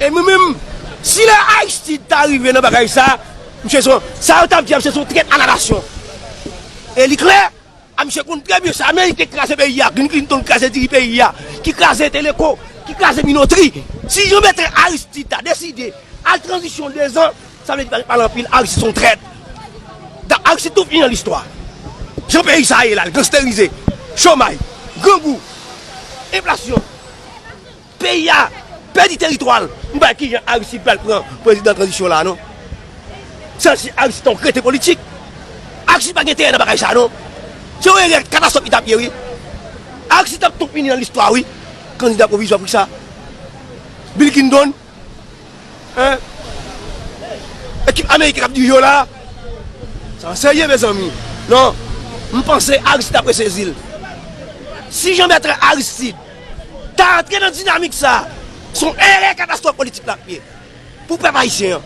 E mwen menm, si lè Aristide ta rive nan bagay sa, misye son, sa yo tap di a misye son trèt a la nasyon. E li klè, a misye konn trè byen sa amerik te kraze peyi a, Bill Clinton kraze diri peyi a, ki kraze teleko, ki kraze minotri. Si Jean Bertrand Aristide ta deside al tranzisyon 2 zan, sa vle di pa gen pale anpil, Aristide son trèt. Dap Aristide tou fini nan listwa. Jan peyi sa ye la, li gansterize, chomay, grangou, enflasyon. Peyi a pèdi teritwa l. M pa wè kijan Aristide pral pran prezidan tranzisyon la non. San si Aristide ta yon kreten politik. Aristide pa gen enterè nan bagay sa non. Se yon erè katastwòf li t ap ye wi. Aristide t ap tou fini nan listwa wi. Kandida pwovizwa pou kisa? Bill Clinton? Ekip ameriken k ap dirije yo la? Sa pa serye mezanmi non. M panse Aristide apre sezi l. Si Jean Bertrand Aristide. Ta antre nan dinamik sa a, se yon erè katastwòf politik l ap ye pou pèp ayisyen an.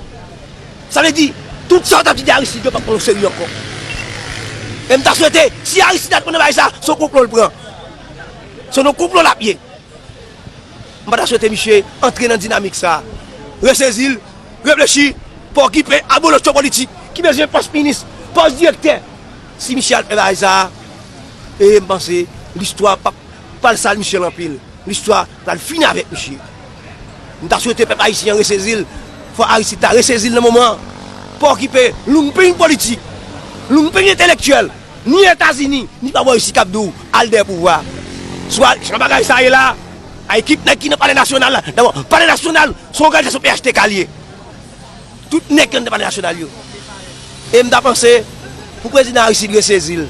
Sa vle di, tout sa yo t ap di de Aristide yo p ap pran oserye ankò. E m ta swete, si Aristide antre nan bagay sa a, se yon konplo l pran. Se nan yon konplo l ap ye. M pa ta swete misye antre nan dinamik sa a. Resezi l, reflechi, pa okipe abolotcho politik ki bezwen pòs minis, pòs direktè. Si misye al fè bagay sa a, e m panse listwa p ap. Pral sal Michel anpil, listwa pral fini avèk misye. M ta swete pèp ayisyen an resezi l, fò Aristide ta resezi l nan moman an. Pa okipe lounping politik, lounping entelektyèl, ni Etazini, ni pa bò isi k ap di w al dèyè pouvwa a. Swa jan bagay sa ye la a, a ekip nèg ki nan palè nasyonal la, dabò palè nasyonal se yon òganizasyon phtk li ye. Tout nèg kandida palè nasyonal yo. E m ta panse pou prezidan Aristide resezi l.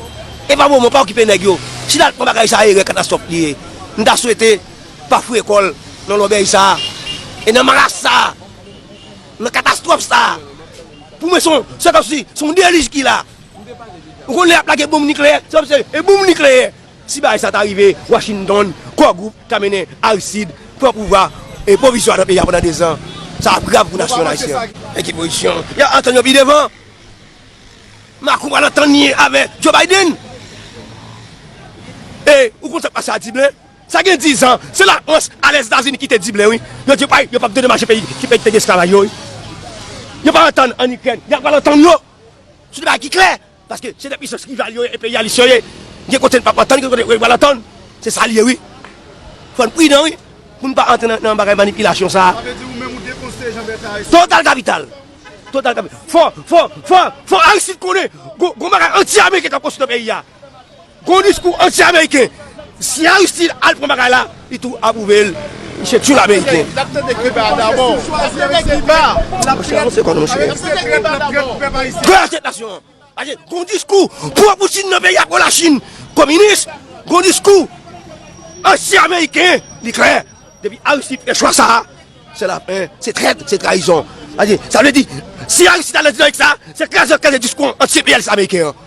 E pa moman, pa okipe nèg yo. Si l al pran bagay sa erè katastwòf li ye. M ta swete pa fouye kò l nan lòbèy sa a. E nan maras sa a. Nan katastwòf sa a. Pou mwen son, se kòmsi son delij ki la. Ou konnen lè y ap lage bonm nikleyè, se kòmsi se e bonm nikleyè. Si bagay sa ta rive Washington, Core Group ka mennen Aristide pran pouvwa pwovizwa nan peyi a pandan 2 zan. Sa ap grav pou nasyon ayisyen an. Nan ki pozisyon yap antann yo pi devan? Macron pral antann li avè Joe Biden? E ou konn sak pase a Diblin? Sa gen 10 zan, se la Frans a Lèzetazini ki te Diblin wi. Yo di yo pap dedomaje peyi ki te gen esklavaj yo wi. Yo pa antann an Ikrèn, ya pral antann yo sou de bagay ki klè. Paske se de pisans rival yo ye, enperyalis yo ye. Gen kote n pap antann, gen kote yo pral antann. Se sa l ye wi. Fò n pridan wi, pou n pa antre nan bagay manipilasyon sa a. Sa vle di ou menm ou dekonseye Jean Bertrand Aristide? Total kapital! Total kapital! Fò, fò, fò, fò Aristide konnen gon bagay anti-ameriken k ap konstwi nan peyi a. Gon diskou anti ameriken. Si Aristide al pran bagay la, li tou aprouve l. Misye tyoul ameriken. Misye lap tande Cuba dabò. Lap tande Cuba. Monchè avanse kò nou monchè. Lap tande Cuba dabò. Gade la tèt nasyon an. Gade gon diskou pro Poutine nan peyi a pro la Chine kominis. Gon diskou anti ameriken. Li klè. Depi Aristide fè chwa sa a, se lafen. Se trèt, se trayizon. Sa vle di si Aristide al nan dinamik sa a, se kraze kraze diskou anti enpeyalis ameriken an.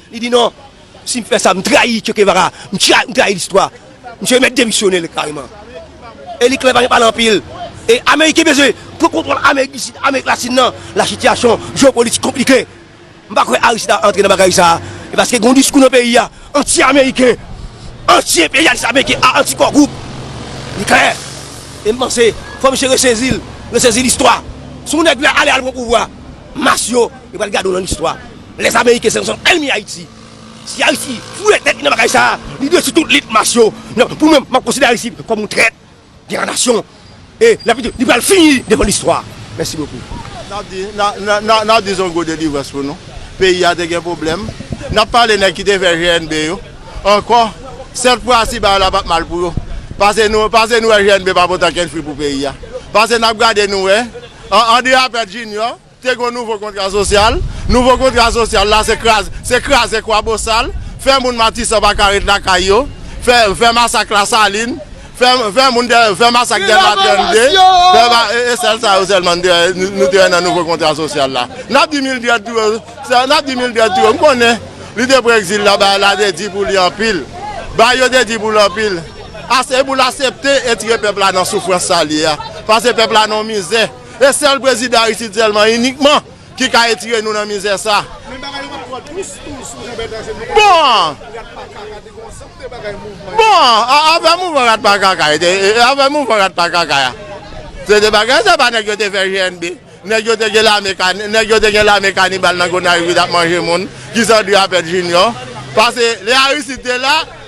Li di non, si m fè sa, m trayi Che Guevara, m trayi listwa. Misye mèt demisyone kareman. Eli Klein pa gen pale anpil. E Ameriken bezwen pran kontwòl Amerik di Sid, Amerik Latin nan. La sitiyasyon jeopolitik konplike. M pa kwè Aristide ap antre nan bagay sa a. E paske gen yon diskou nan peyi a anti-Ameriken, anti-enperyalis Ameriken, anti Core Group. Li klè. E m panse fò misye resezi l, resezi listwa. Sou nèg la ale al pran pouvwa, mas yo, yo pral gade w nan listwa. Les Américains se son ennemi Haïti si Haïti fouye tèt li nan bagay sa li dwe sou tout lit mas yo pou mwen map konsidere Haïti kòm yon trèt de la nation e li pral fini devan listwa mèsi bokou. Nap di zongo delivrans pou nou peyi a te gen pwoblèm nap pale nèg ki te fè GNB yo ankò sèt fwa si bagay la pat mal pou yo pase nou pase nou wè GNB pa pot ankenn fwi pou peyi a pase nap gade nou wè André Apert Junior. Te gon nouvo kontra sosyal, nouvo kontra sosyal la se kraze, se kraze kwabosal, fè moun matisan pa ka ret lakay yo, fè, fè masak lasalin, fè, fè moun dè, fè masak dèlma 32, fè ba, e, e sèl sa yo sèlman nou te wè, nou te wè nan nouvo kontra sosyal la. Nap di Mildred tou, sè, nap di Mildred tou, m konnen li te pran egzil la, bagay la te di pou li anpil, bagay yo te di pou l anpil, ase pou l asepte etire pèp la nan soufrans sa l ye a, pase pèp la nan mizè. E sèl prezidan Aristide sèlman inikman ki ka etire nou nan mizè sa. Men bagay yo pa twò dous tou sou Jean Bertrand se nou menm Bon! Rat pa kaka te gen yon ansanm de bagay mouvman yo. Bon! Afè mouvman rat pa kaka yo te afè mouvman rat pa kaka ya se te bagay se pa nèg yo te fè GNB nèg yo te gen lame ka nèg yo te gen lame kanibal nan Gonayiv ki t ap manje moun ki san Dieu a pèt Junior pase lè Aristide te la.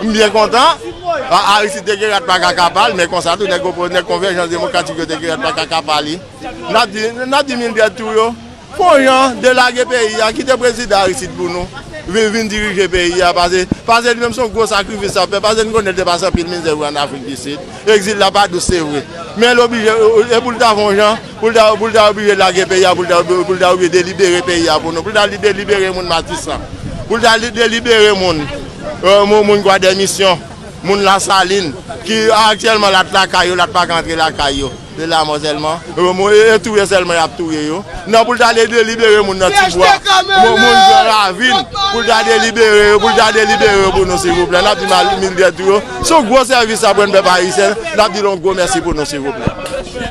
M byen kontan, Aristide te gen rat pa kaka pa l, men konsa tou nèg opo, nèg Konvèjans Demokratik yo te gen rat pa kaka pa li. N ap di, n ap di Milbert tou yo, fon jan de lage peyi a, kite Prezidan Aristide pou nou, vin vin dirije peyi a, pase, pase li menm son gwo sakrifis l ap fè, pase n konnen l te pase anpil mizè vre an Afrik di Sid, ekzil la pa dous se vre, men l oblije, e pou l ta fon jan. Pou l ta pou l ta oblije lage peyi a pou l ta pou l ta oblije delibere peyi a pou nou pou l ta delibere moun matisan pou l ta delibere moun moun gwadèmisyon moun lasalin ki aktyèlman l at lakay yo l at pa ka antre lakay yo se lamò sèlman e touye sèlman y ap touye yo nan pou l ta delibere moun nan tibwa moun gran ravin pou l ta delibere yo pou l ta delibere yo pou nou silvouplè n ap di malgre tou yo se yon gwo sèvis sa pou n pèp ayisyen n ap di l yon gwo mèsi pou nou silvouplè.